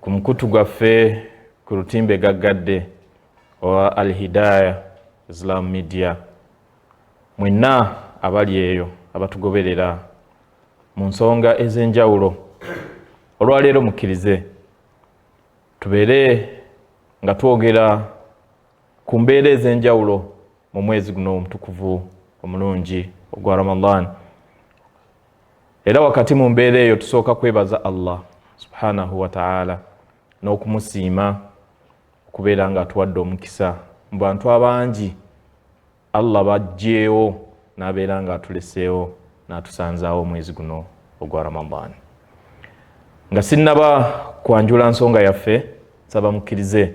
ku mukutu gwaffe ku lutimbe gaggadde owa alhidaya islam media mwenna abali eyo abatugoberera mu nsonga ez'enjawulo olwaleero mukkirize tubeere nga twogera ku mbeera ez'enjawulo mu mwezi guno omutukuvu omulungi ogwa ramadan era wakati mu mbeera eyo tusooka kwebaza allah subhanahu wataala n'okumusiima okubeera nga atuwadde omukisa mu bantu abangi allah bajjeewo n'abeera nga atuleseewo n'atusanzaawo omwezi guno ogwa ramadaani nga sinnaba kwanjula nsonga yaffe nsaba mukkirize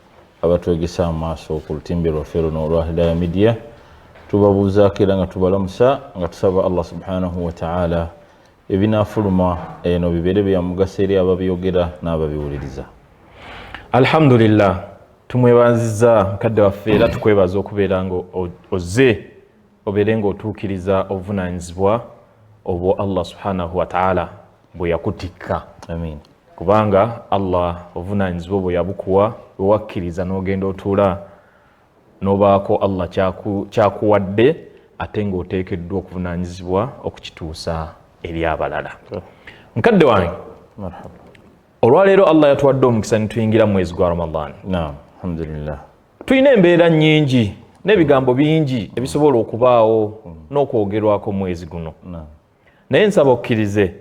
abatwegesa amaaso ku lutimbe lwaffe luno olwa hidaya midiya tubabuuzaako era nga tubalamusa nga tusaba allah subhanahu wataala ebinafuluma eno bibeere byamugaso eri ababyogera n'ababiwuliriza alhamdulillah tumwebanziza mukadde waffe era tukwebaza okubeera nga ozze obeere ng'otuukiriza obuvunaanyizibwa obwo allah subhanahu wataala bwe yakutikka amiin kubanga allah obuvunaanyizibwa obwo yabukuwa wewakkiriza n'ogenda otuula n'obaako allah kyakuwadde ate ng'oteekeddwa okuvunaanyizibwa okukituusa eri abalala mukadde wange olwaleero allah yatuwadde omukisa nituyingira mu mwezi gwa ramadan alhamdulillah tulina embeera nyingi n'ebigambo bingi ebisobola okubaawo n'okwogerwako mwezi guno naye nsaba okkirize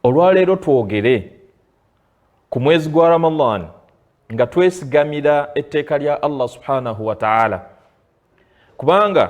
olwaleero twogere ku mwezi gwa ramadan nga twesigamira etteeka lya allah subhanahu wataala kubanga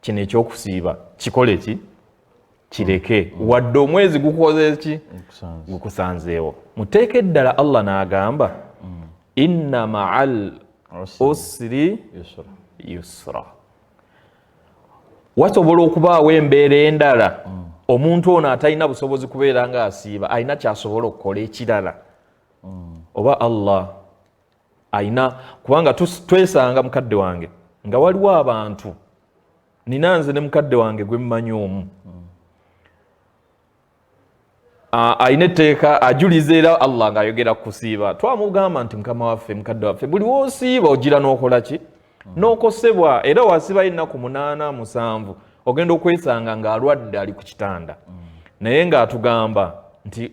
kino ekyokusiiba kikole ki kireke mm. wadde omwezi gukoze ki gukusanzeewo muteeka eddala allah n'agamba mm. inna maal usri yusra wasobola okubaawo embeera endala mm. omuntu ono atalina busobozi kubeera nga asiiba alina kyasobola okukola ekirala oba allah alina kubanga twesanga mukadde wange nga waliwo abantu nina nze ne mukadde wange gwe mmanyi omu alina etteeka ajuliza era allah ngaayogera kukusiiba twamugamba nti mukama waffe mukadde waffe buli wosiiba ogira n'okola ki n'okosebwa era wasibayo ennaku munaana musanvu ogenda okwesanga ng'alwadde ali ku kitanda naye ng'atugamba nti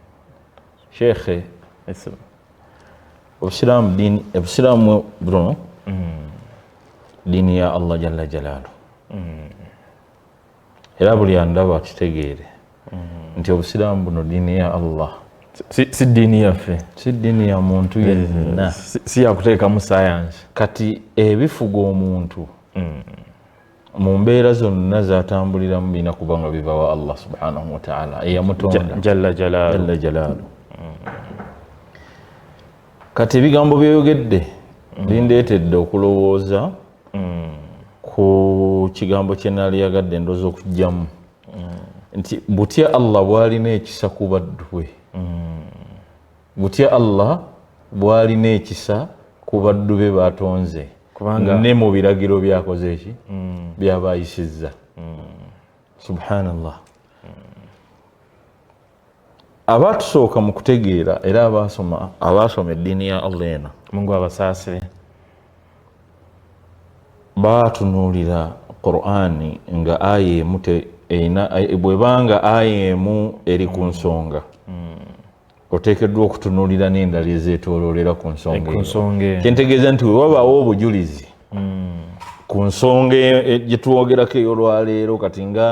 sheikhe obusiraamu diini obusiraamu buno mm. diini ya allah jalla jalaalu mm. era buli andaba akitegeere mm. nti obusiraamu buno diini ya allah si diini yaffe si diini ya muntu eh, yenna si yakuteekamu sayansi kati ebifuga omuntu mu mbeera zonna zatambuliramu birina kuba nga biva wa allah subhanahu wataala eyamutonda jalla jalaalu kati ebigambo byoyogedde mm. bindeetedde okulowooza mm. ku kigambo kye naali yagadde ndoozi okugyamu mm. nti butya allah bwalina ekisa ku baddu bwe butya allah bwalina ekisa ku baddu be batonze ne mu biragiro byakoze eki mm. byaba ayisizza mm. subhanallah mm. abatusooka mu kutegeera era abasoma abaasoma eddiini ya allah ena mungu abasaasire baatunuulira qurani nga aya emu erina bwebanga aya emu eri ku nsonga oteekeddwa okutunuulira n'endala ezeetooloolera ku nsonga eno kyentegeeza nti wewabaawo obujulizi hmm. ku nsonga e-, e-, gye twogerako ey'olwaleero kati nga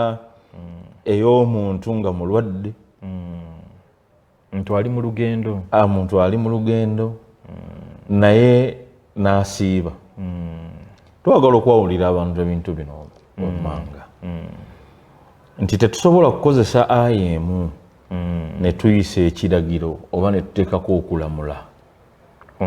hmm. ey'omuntu nga mulwadde hmm. ntu ali mu lugendo ah, muntu ali mu lugendo naye n'asiiba twagala okwawulira abantu ebintu bino wammanga nti tetusobola kukozesa aya emu mm. ne tuyisa ekiragiro oba ne tuteekako okulamula ku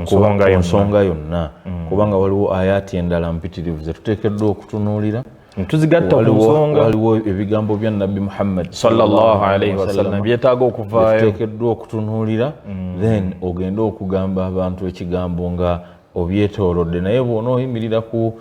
nsonga yonna mm. kubanga waliwo ayaati endala mpitirivu ze tuteekeddwa okutunuulira tuzigatta ku nsonga waliwo ebigambo bya nabbi muhammad sawasalam byetaaga okuvaayo tuteekeddwa okutunuulira mm. then ogende okugamba abantu ekigambo nga obyetoolodde naye bw'onooyimirira ku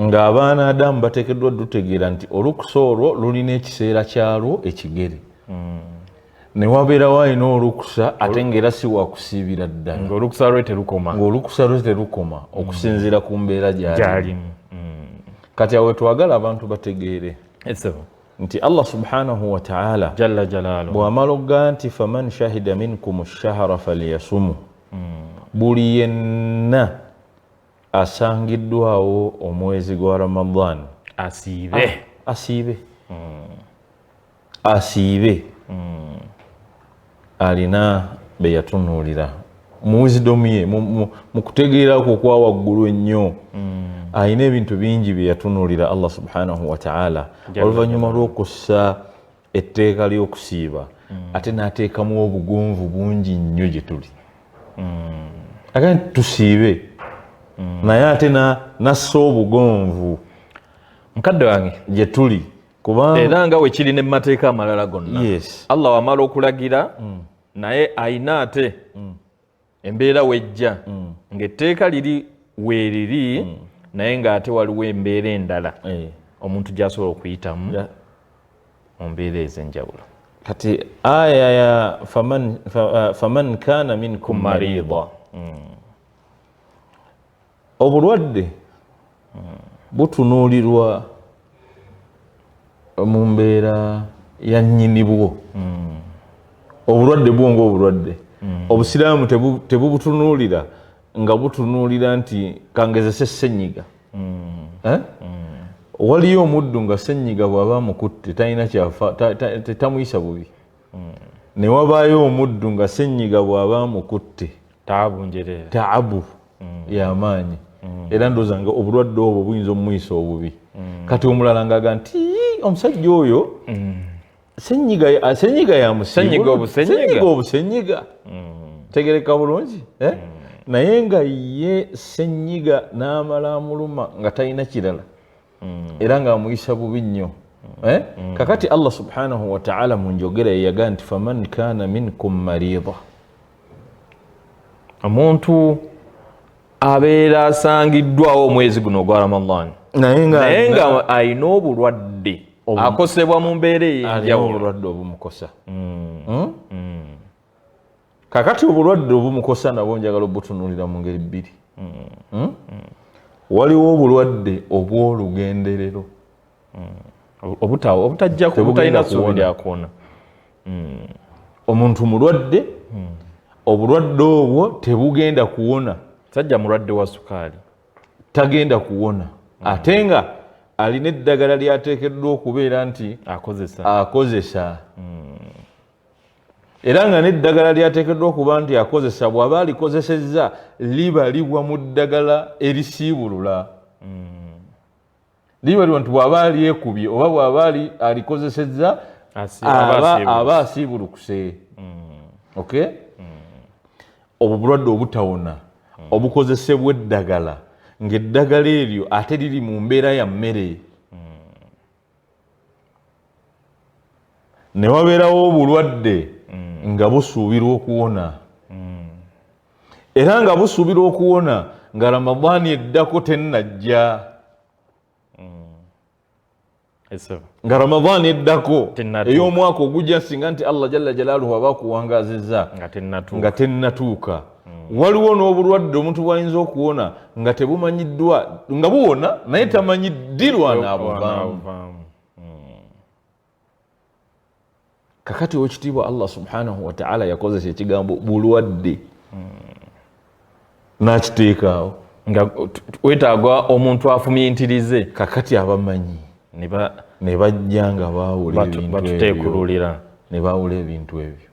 ng'abaana adamu bateekeddwa dutegeera nti olukusa olwo lulina ekiseera kyalwo ekigere hmm. ne wabeerawo alina olukusa ate ng'era si wakusiibira ddala ngaolukusa lwe terukoma ngaolukusa lwe terukoma hmm. okusinziira ku mbeera gyalimu hmm. kati awe twagala abantu bategeere nti allah subhanahu wataala bw'amala okugaa nti faman shahida minkum shahara falyasumu buli yenna asangiddwawo omwezi gwa ramadan asiibe ah, asiibe hmm. asiibe hmm. alina beyatunuulira mu wisdom ye mu kutegeera kwo kwa waggulu ennyo hmm. alina ebintu bingi byeyatunulira allah subhanahu wataala oluvannyuma lw'okussa etteeka ly'okusiiba ate n'ateekamu obugonvu bungi nnyo gye tuli mm. aga nti tusiibe mm. naye ate nassa obugonvu mukadde wange gye tuli kubanga era nga wekiri ne mumateeka amalala gonna allah wamala okulagira mm. naye ayina ate embeera wejja mm. ng'etteeka liri weeriri mm. naye ng'ate waliwo embeera endala eh. omuntu gy'asobola okuyitamu mu mbeera ez'enjawulo kati aya ya faman, fa, uh, faman kana minkum marida mm. Obulwadde butunuulirwa mu mbeera ya nnyinibwo. Hmm. Obulwadde bwo ng'obulwadde. Hmm. Obusiraamu tebubutunuulira nga butunuulira nti kangezese ssenyiga. Hmm. Eh? Waliyo omuddu nga ssenyiga bw'aba amukutte talina kyafa tamuyisa bubi. Ne wabaayo omuddu nga ssenyiga bw'aba amukutte. taabu njerere taabu mm. yamaanyi mm. era ndooza nga obulwadde obwo buyinza omumuyisa obubi mm. kati omulala ngaga nti omusajja oyo senyiga yamusenyiga obusenyiga tegereka bulungi eh? naye nga ye senyiga n'amala amuluma nga talina kirala mm. era nga amuyisa bubi nnyo mm. eh? mm. kakati allah subhanahu wataala mu njogera yeyaga nti faman kana minkum marida omuntu abeera asangiddwawo omwezi guno ogwa ramadan naye nga alina obulwadde akosebwa mu mbeera eyenjawulo obumukosa hmm? Hmm? kakati obulwadde obumukosa nabwo njagala obutunulira mu ngeri bbiri hmm? Hmm? waliwo obulwadde obw'olugenderero obutalina suubi lyakuwona omuntu mulwadde obulwadde obwo tebugenda kuwona sajja mulwadde wa sukaali tagenda kuwona mm. ate nga alina eddagala lyateekeddwa okubeera nti akozesa akozesa mm. era nga n'eddagala lyateekeddwa okuba nti akozesa bw'aba alikozesezza libalibwa mu ddagala erisiibulula hmm. libalibwa nti bw'aba alyekubye oba bw'aba alikozesezza aba asiibulukuse hmm. ok hmm. obwo bulwadde obutawona obukozesebwa eddagala ng'eddagala eryo ate liri mu mbeera ya mmere ne wabeerawo obulwadde mm. nga busuubirwa okuwona mm. era nga busuubirwa okuwona nga ramadaani eddako tennajja mm. nga ramadaani eddako ey'omwaka ogujja singa nti allah jalla jalaaluhu aba akuwangaazizza nga tennatuuka hmm. waliwo n'obulwadde omuntu bwayinza okuwona nga tebumanyiddwa nga buwona naye hmm. tamanyi ddirwa naabuvaamu hmm. kakati owekitiibwa allah subhanahu wataala yakozesa ekigambo bulwadde nakiteekaawo nga wetaaga omuntu afumintirize kakati abamanyi ne bajja nga baawula ebintu ebyo ne baawula ebintu ebyo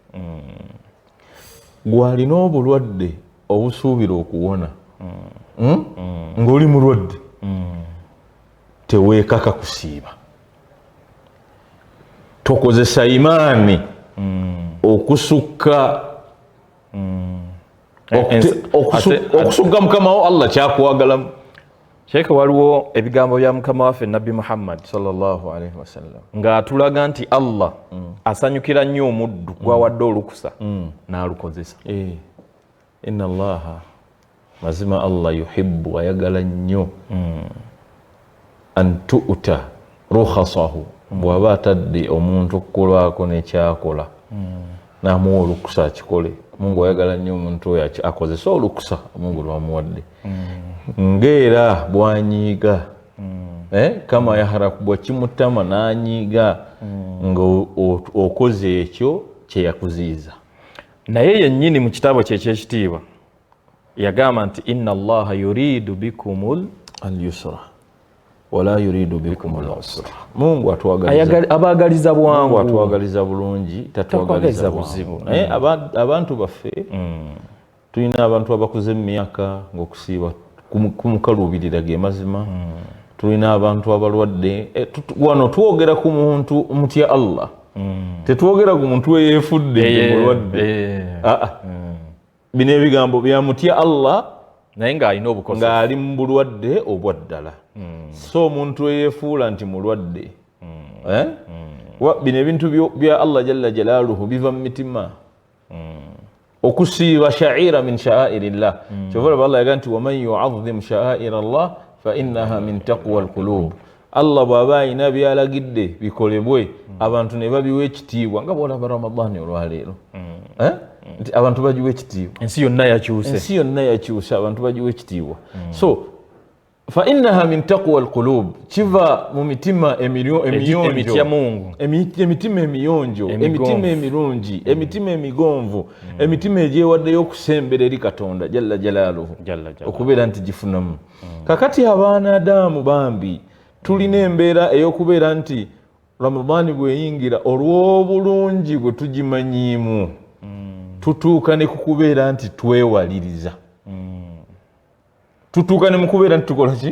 gwalina obulwadde obusuubira okuwona hmm? ng'oli mulwadde teweekaka kusiiba tokozesa imaani okusukka okusukka mukamawo allah kyakwagalamu sheekhe waliwo ebigambo bya mukama waffe nabbi muhammad sawasalam ng'atulaga nti allah mm. asanyukira nnyo omuddu mm. gwawadde olukusa mm. n'alukozesa eh. ina llaha mazima allah yuhibu ayagala nnyo mm. an tuuta rukhasahu bwaba atadde omuntu okukolwako nekyakola hmm. namuwa olukusa akikole mungu ayagala nnyo omuntu oyo akozese olukusa mungu lwamuwadde hmm. ngaera bwanyiiga hmm. eh, kama yaharakubwa kimutama nanyiiga nga okoze ekyo kyeyakuziiza naye yennyini mu kitaabo kye ekyekitiibwa yagamba nti inna allaha yuridu bikumul alyusra wala yuridu bikum lusra mungu abagaliza bwangu atwagaliza bulungi tatwagaliza buzibu naye mm. abantu baffe mm. tulina abantu abakuze mu myaka ngaokusiiba kumukaluubirira ge mazima mm. tulina abantu abalwadde eh, wano twogera ku muntu mutya allah tetwogera ku muntu eyefudde mulwadde eh, eh. ah, ah. bino ebigambo byamutya allah naye ng'alina obukozi ng'ali mu bulwadde obwaddala hmm. si omuntu eyefuula nti mulwadde hmm. Eh? Hmm. bino ebintu bya allah jalla jalaaluhu biva mu mitima okusiiba shaaira min shaairi llah kyova olaba allah yaga nti waman yuazimu shaaira llah fainaha min taqwa lkulub Allah bw'aba alina by'alagidde bikolebwe mm. abantu ne babiwa ekitiibwa nga bw'olaba Ramadhani olwaleero mm. eh? mm. nti abantu bagiwa ekitiibwa ensi yonna yakyuse ensi yonna yakyuse abantu bagiwa ekitiibwa so fa innaha min taqwa alqulub kiva mu mitima emiyonjoemitima emiyonjo emitima emirungi mm. emitima emigonvu mm. emitima egyewaddeyo okusembereri katonda jalla jalaaluhu okubeera nti gifunamu mm. hmm. kakati abaana adaamu bambi tulina embeera ey'okubeera nti ramadaani bweyingira olw'obulungi bwe tugimanyiimu hmm. tutuuka ne kukubeera nti twewaliriza hmm. tutuuka ne mukubeera nti tukola ki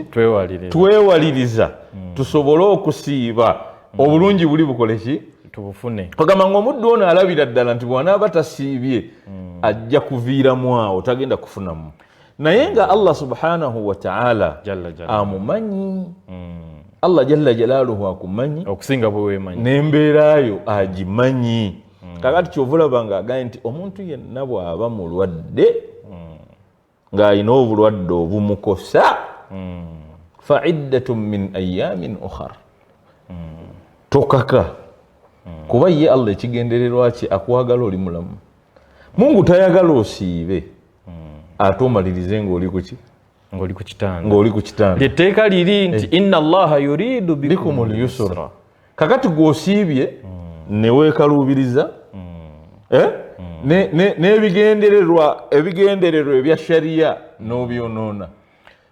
twewaliriza tusobole okusiiba obulungi buli bukole ki tubufune ogamba ngaomuddu ono alabira ddala nti bwanaaba tasiibye mm. ajja kuviiramu awo tagenda kufunamu naye nga allah subhanahu wataala amumanyi mm. allah jalla jalaluhu akumanyi okusinga bwewemanyi nembeerayo agimanyi mm. kakati kyova olaba nga agambye nti omuntu yenna bwaba mulwadde mm. ng'alina obulwadde obumukosa mm. fa iddatu min ayamin ukhar mm. tokaka mm. kuba ye allah ekigendererwa kye akwagala oli mulamu Mungu tayagala osiibe ate omalirize ng'oli ku ki ng'oli ku kitanda ng'oli ku kitanda etteeka liri nti eh. inna allaha yuridu bikum lyusra kakati gw'osiibye hmm. ne weekaluubiriza hmm. eh? hmm. n'ebigendererwa ebigendererwa ebya shariya n'obyonoona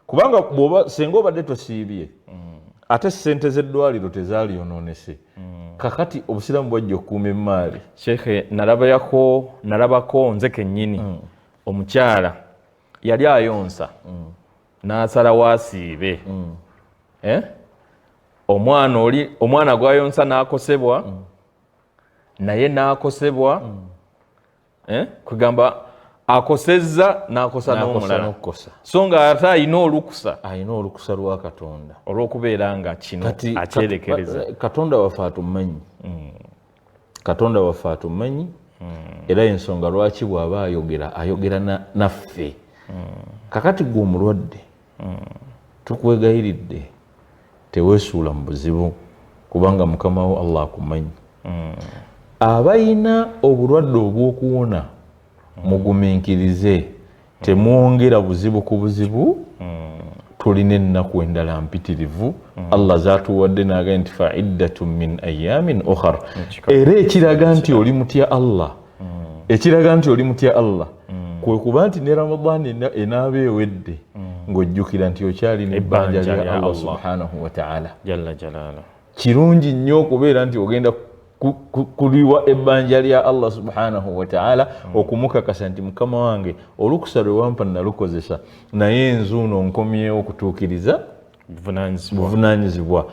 kubanga bwoba senga obadde tosiibye mm. ate sente z'eddwaliro tezaalyonoonese mm. kakati obusiraamu bwajja okukuuma emmaali sheekhe nalabayako nalabako nze kennyini mm. omukyala yali ayonsa mm. n'asala wasiibe mm. eh? omwana oli omwana gwayonsa n'akosebwa mm. naye n'akosebwa mm. eh? kwegamba akosezza nakosa nomulala so nga ate ayina olukusa ayina olukusa lwa katonda olwokubeera nga kino akyerekereza eh, katonda waffe atumanyi mm. katonda waffe atumanyi mm. era ensonga lwaki bwaba ayogera ayogera naffe mm. kakati gwe omulwadde tukwegayiridde tewesuula mu buzibu kubanga mukama wo allah akumanyi mm. abalina obulwadde obw'okuwona mugumiikirize temwongera buzibu ku buzibu tulina ennaku endala mpitirivu allah zatuwadde naga nti faiddatu min ayamin ohar era ekiraga nti oli mutya allah ekiraga nti oli mutya allah kwe kuba nti ne ramadan enaaba ewedde ng'ojjukira nti okyalina ebbanja lya allah subhanahu wataala kirungi nnyo okubeera nti ogenda kuliwa ebbanja lya allah subhanahu wataala hmm. okumukakasa nti mukama wange olukusa lwe wampa nalukozesa naye enzuuno nkomyewo okutuukiriza buvunanyizibwa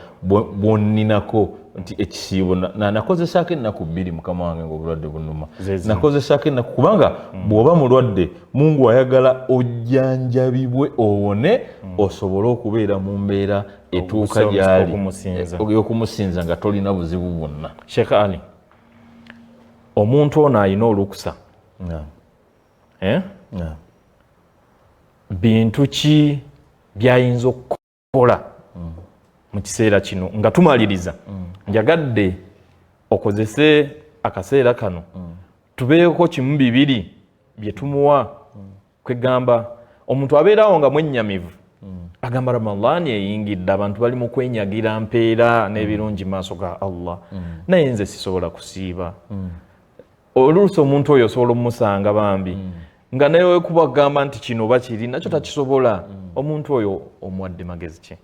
bwoninako nti ekisiibo nakozesaako ennaku bbiri mukama wange ngaobulwadde bunuma nakozesaako ennaku kubanga mm. bwoba mulwadde mungu ayagala ojjanjabibwe owone mm. osobole okubeera mu mbeera etuuka gyali eyokumusinza eh, nga tolina buzibu bwonna sheekh ali omuntu ono alina olukusa eh? yeah. bintu ki byayinza okukola mm. mu kiseera kino nga tumaliriza mm. njagadde okozese akaseera kano mm. tubeeko kimu bibiri bye tumuwa mm. kwegamba omuntu abeerawo nga mwennyamivu mm. agamba ramadaani eyingidde abantu bali mu kwenyagira mpeera n'ebirungi maaso ga allah naye nze sisobola kusiiba oluusi omuntu oyo osobola omusanga bambi mm. nga naye wekuba kugamba nti kino oba kiri nakyo mm. takisobola mm. omuntu oyo omuwadde magezi ki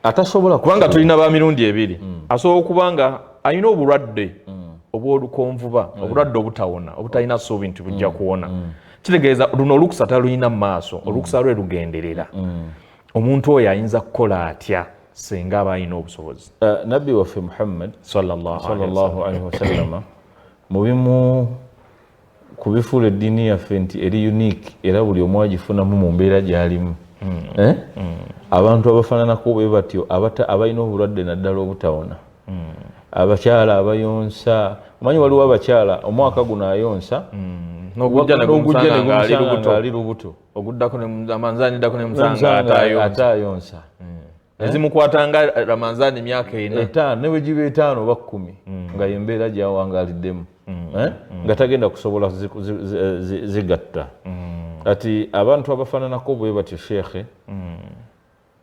atasobola kubanga tulina ba mirundi ebiri mm. asobola okuba nga alina obulwadde mm. obwolukonvuba mm. obulwadde obutawona obutalina suubi nti bujja mm. kuwona mm. kitegeeza luno olukusa talulina mu maaso mm. olukusa lwe lugenderera mm. omuntu oyo ayinza kukola atya singa aba alina obusobozi uh, nabbi waffe muhammad sallallahu alaihi wasallama mu bimu ku bifuula eddiini yaffe nti eri unique era buli omu agifunamu mu mbeera gy'alimu hmm. Eh? Hmm. abantu abafaananako bwe batyo abalina obulwadde naddala obutawona hmm. abakyala abayonsa omanyi waliwo abakyala omwaka guno ayonsa n'ogujja negumusanga ng'ali lubuto oguddako amanzani dako nemusanga atayonsa hmm. eh? ezimukwata nga ramanzani myaka ena etaano ne bwegiba etaano oba kkumi hmm. nga yembeera gyawangaliddemu hmm. eh? nga tagenda kusobola zigatta kati abantu abafananako bwe batyo sheekhe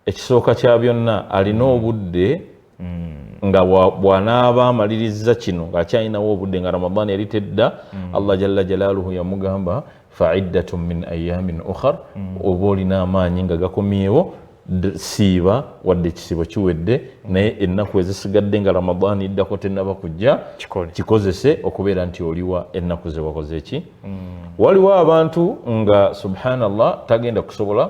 ekisooka kya byonna alina mm. obudde mm. nga bwanaaba amaliriza kino ngaakyalinawo obudde nga ramadan yali tedda mm. allah jalla jalaaluhu yamugamba faiddatun min ayamin ukhar oba olina amaanyi nga gakomyewo siiba wadde ekisibo kiwedde naye ennaku ezisigadde nga ramadaani iddako tenaba kujja kikozese okubeera nti oliwa ennaku zewakoze ki mm. waliwo abantu nga subhanallah tagenda kusobola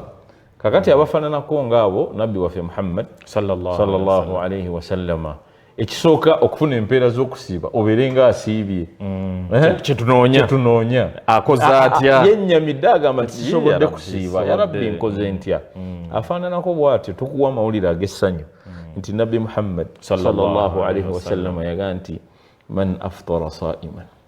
kakati abafananako nga abo nabbi waffe muhammad salllahu alaihi wasallama ekisooka okufuna empeera z'okusiiba obeere nga asiibye mm. eh? kyetunoonya akoza atya yennyamidde agamba nti sisobodde kusiiba yarabbi nkoze ntya mm. afaananako bwatyo tukuwa amawulire ag'essanyu mm. nti nabbi muhammad salllahu alaihi wasallama yaga nti man aftara saiman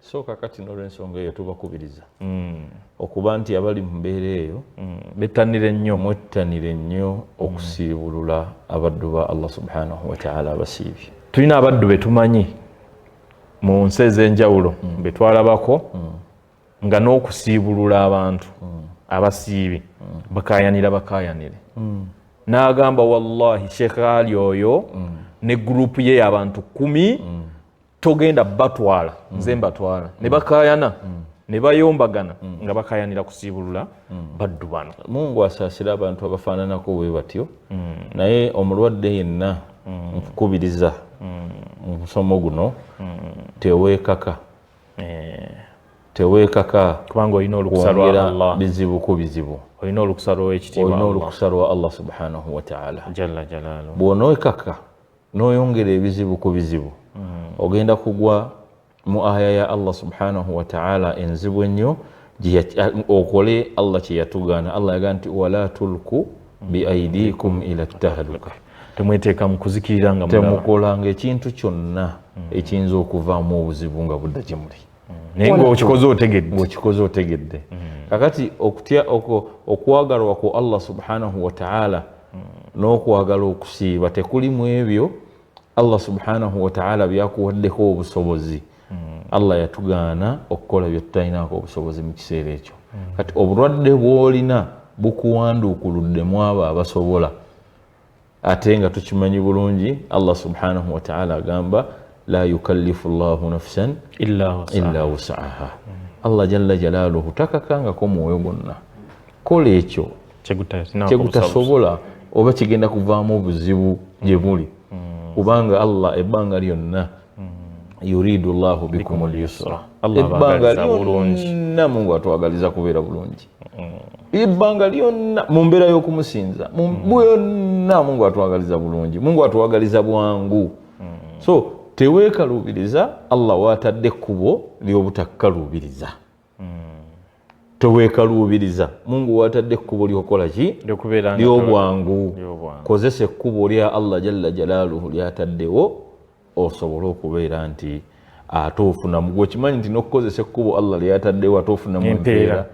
so kakati nolwensonga eyo tubakubiriza mm. okuba nti abali mu mbeera eyo mm. bettanire nnyo mwettanire nnyo mm. okusiibulula abaddu ba allah subhanahu wataala abasiibye tulina abaddu betumanyi mu nsi ez'enjawulo mm. betwalabako mm. nga n'okusiibulula abantu mm. abasiibi mm. bakayanira bakayanire mm. n'agamba wallahi sheekh ali oyo mm. ne gurupu ye yabantu kumi mm. togenda batwala mm. nze mbatwala mm. ne bakayana mm. ne bayombagana mm. nga bakayanira kusiibulula mm. baddu bano mungu asaasira abantu abafaananako we batyo mm. naye omulwadde yenna mm. nkukubiriza mm. mu musomo guno mm. teweekaka eh. teweekaka kubanga olina olukusa lwa allah bizibu ku bizibu olina olukusa lw'ekitiibwa olina olukusa lwa allah subhanahu wataala jalla jalaalu bw'onoekaka noyongera ebizibu ku bizibu ogenda kugwa mu aya ya Allah subhanahu wa ta'ala enzibu ennyo okole Allah kyeyatugaana Allah yagaa nti wala tulku biaidikum ila tahluka temweteeka mu kuzikirira nga temukolanga ekintu kyonna ekiyinza okuvaamu obuzibu nga budda gye muli naye ngaokikoze otegedde ngaokikoze otegedde mm. kakati okutya okwagalwa ku allah subhanahu wataala mm. n'okwagala okusiiba tekuli mu ebyo allah subhanahu wataala byakuwaddeko obusobozi mm. allah yatugaana okukola byetutalinako obusobozi mu kiseera ekyo kati obulwadde bwolina bukuwanduukuluddemu abo abasobola ate nga tukimanyi bulungi allah subhanahu wataala agamba la yukallifu llahu nafsan illa wusaaha allah jalla jalaaluhu takakangako mwoyo gwonna kola ekyo kyegutasobola oba kigenda kuvaamu obuzibu gye buli mm. kubanga allah ebbanga lyonna yuridu llahu bikum lyusra ebbanga lyonna mungu atwagaliza kubeera bulungi ebbanga lyonna mu mbeera y'okumusinza byonna mungu atwagaliza bulungi mungu atwagaliza bwangu so teweekaluubiriza allah waatadde ekkubo ly'obutakkaluubiriza tewekaluubiriza mungu watadde ekkubo lyokukola ki lyobwangu kozesa ekkubo lya allah jalla jalaaluhu lyataddewo osobole okubeera nti ate ofunamu gwekimanyi nti nokukozesa ekkubo allah lyataddewo ate ofunamu empeera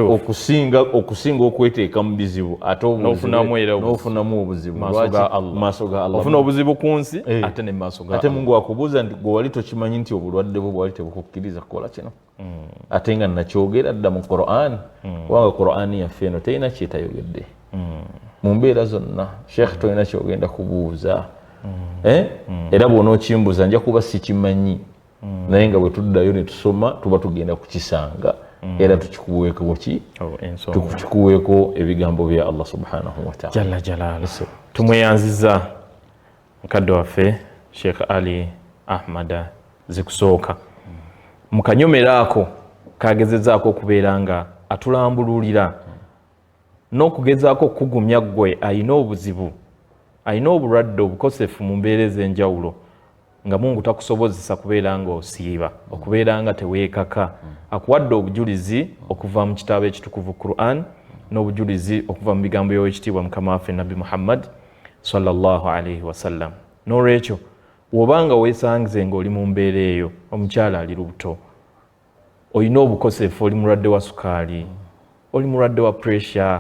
okusinga okusinga okweteeka mu bizibu ate nofunamu obuzibu maaso ga allah ofuna obuzibu ku nsi eh. ate ne maaso ate mungu akubuuza nti gwe wali tokimanyi nti obulwadde bwo bwali tebukukkiriza kukola kino mm. ate nga nakyogera dda mu quran mm. kubanga quran yaffe eno terina kyetayogedde mm. mu mbeera zonna sheekh tolina kyogenda kubuuza eh? era bwona okimbuuza nja kuba sikimanyi naye nga bwetuddayo netusoma tuba tugenda kukisanga Mm. era tukikuweeko ki oh, tukikuweeko ebigambo bya allah subhanahu wataala jalla jalaalu tumweyanziza mukadde waffe sheikh ali ahmada zikusooka mu kanyomero ako kagezezaako okubeera nga atulambululira n'okugezaako okukugumya ggwe alina obuzibu alina obulwadde obukosefu mu mbeera ez'enjawulo nga mungu takusobozesa kubeera nga osiiba okubeera nga teweekaka akuwadde obujulizi okuva mu kitaabo ekitukuvu quran n'obujulizi okuva mu bigambo by'owekitiibwa mukama waffe nabbi muhammadi salllahalaihi wasallam nolwekyo wobanga wesangize nga oli mu mbeera eyo omukyala ali lubuto olina obukosefu oli mulwadde wa sukaali oli mulwadde wa pressure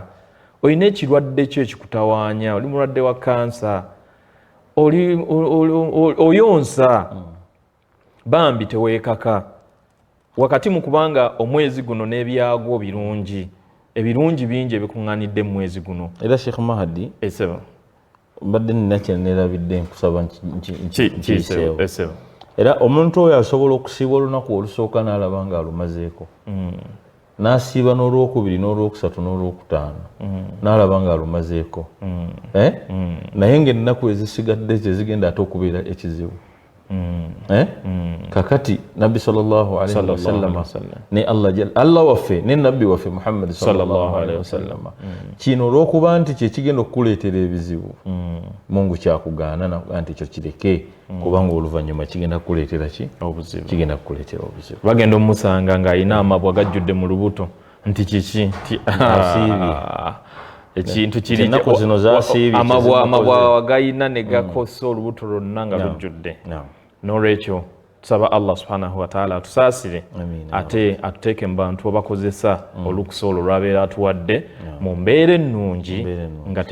olina ekirwadde kyo ekikutawaanya oli mulwadde wa kansa oyonsa bambi tewekaka wakati mu kubanga omwezi guno n'ebyagwo birungi ebirungi bingi ebikuŋŋanidde mu mwezi guno era sheikh mahadi esebo mbadde nina kyenerabidde nkusaba nkiiseewo era omuntu oyo asobola okusiiba olunaku olusooka n'alaba nga alumazeeko mm. n'asiiba n'olwokubiri n'olwokusatu n'olwokutaano mm. n'alaba nga alumazeeko mm. Eh? naye ng'ennaku ezisigadde zezigenda ate okubeera ekizibu mm. eh? mm. kakati nabbi sawasalama ne allah allah waffe ne nabbi waffe muhammadi sawasalama mm. kino olwokuba nti kyekigenda okukuleetera ebizibu mm. mungu kyakugaana nakuga nti ekyo kireke mm. kubanga oluvanyuma kigenda kukuleetera ki kigenda kukuleetera obuzibu bagenda omusanga ng'alina amabwa gajjudde mu lubuto nti kiki nti ekintu kiriamabwa wagayina negakosa olubuto lwonna nga lujjudde nolwekyo tusaba allah subhanahu wataala atusaasire ate atuteeke mu bantu abakozesa mm. olukusa olwo lwabeera atuwadde mu mbeera ennungi nga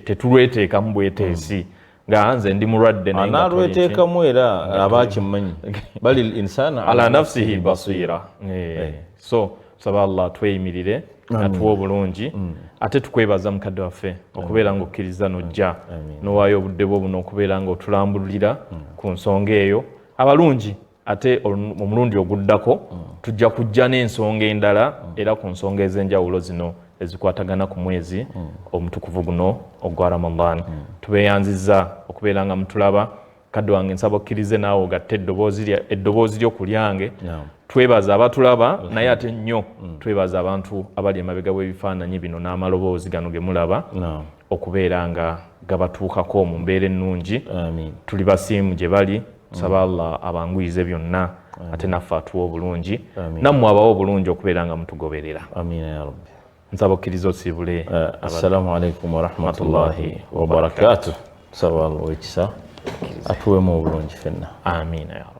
tetulweteekamu bweteesi mm. nga nze ndi mulwadde nalwetekamu era aba akimanyi bali linsana ala nafsihi basira eh. Eh. so tusaba allah atweyimirire atuwa obulungi mm. ate tukwebaza mukadde waffe okubeera nga okkiriza nojja nowaayo obudde bwo buno okubeera nga otulambululira mm. ku nsonga eyo abalungi ate omulundi oguddako tujja kujja n'ensonga endala era ku nsonga ez'enjawulo zino ezikwatagana ku mwezi omutukuvu guno ogwa ramadan tubeyanziza okubeera nga mutulaba kadde wange nsaba okkirize naawe ogatte eddoboozi lyo ku lyange twebaza abatulaba naye ate nnyo mm. twebaza abantu abali emabega w'ebifaananyi bino n'amaloboozi gano ge mulaba okubeera nga gabatuukako mu mbeera ennungi tuli basiimu gye bali tusaba mm. allah abanguyize byonna ate naffe atuwa obulungi nammwe abawa obulungi okubeera nga mutugoberera amiina ya rabbi nsaba okkiriza osiibule eh, assalamu alaikum warahmatullahi wabarakatu tusaba allah owekisa atuwemu obulungi fenna amiina ya rabbi